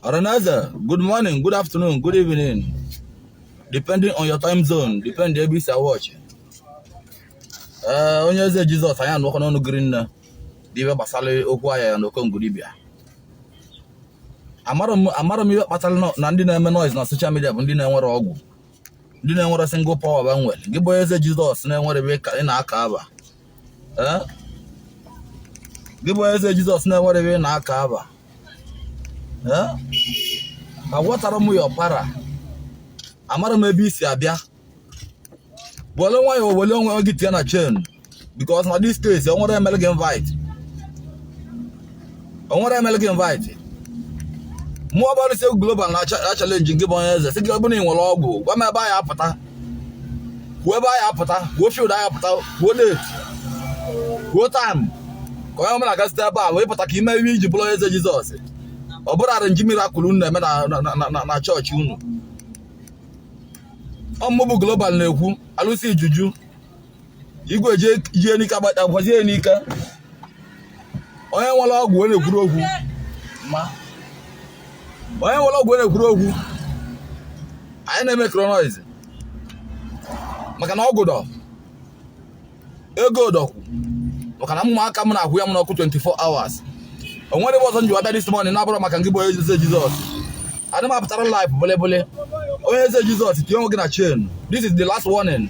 Ọra na eze, good morning, good afternoon, good evening. Depending on your time zone, depend ebe i si a-watch. Eh, onye eze Jizọs anyị anụkọ n'ọnụ giri nne dị ibe gbasara okwu a ya na okongwu dibịa. Amara m ihe kpatara na ndị na-eme noise na social media bụ ndị na-enwerọ ọgwụ. ndị na-enwerọ single power ba nwere gị bụ onye eze jizọs na-enwerọ ebe ị na-aka aba eh? gị bụ onye eze jizọs na-enwerọ ebe ị na-aka aba eh? agwatara m ya ọpara amara m ebe i si abịa were nwayọọ were onwe gị tinye na chain because na this case o nwerọ onye mere gị invite o nwerọ onye mere gị invite mụwa bụ arụsị global na-achallenge gị bụ onye eze sị gị ọ bụ na ị nwere ọgwụ gwa m ebe anyị apụta kwuo ebe anyị apụta kwuo field anyị apụta kwuo date kwuo time ka onye ọbụla ga site ebe a wee pụta ka i mee ihe i ji bụrụ onye eze Jizọs ọ bụrọ arrangee miracle unu na-eme na chọọchị unu ọ mụ bụ global na-ekwu alụsị ijuju igwe ji enika gbata gwazi enika onye nwere ọgwụ ọ na-ekwurọ okwu ma onye nwere ọgwụ ọ na-ekwurọ okwu anyị na-emekerọ noise maka na ọgwụ dọ ego dọkwu maka na ụmụaka m na-akwụ ya m n'ọkụ 24 hours o nwerọ ihe ọzọ m ji wee bịa this morning na-abụrọ maka ngị bụ onye eze jizọs adị m apụtara live bụlịbụlị onye eze jizọs tinye onwe gị na chain this is the last warning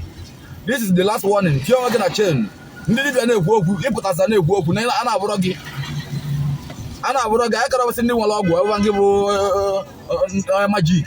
this is the last warning tinye onwe gị na chain ndị dibịa na-ekwu okwu ị pụtasa na-ekwu okwu na a na-abụrọ gị a na-abụrọ gị anyị karabasị ndị nwere ọgwụ ebe gị bụ eh, eh, eh, magic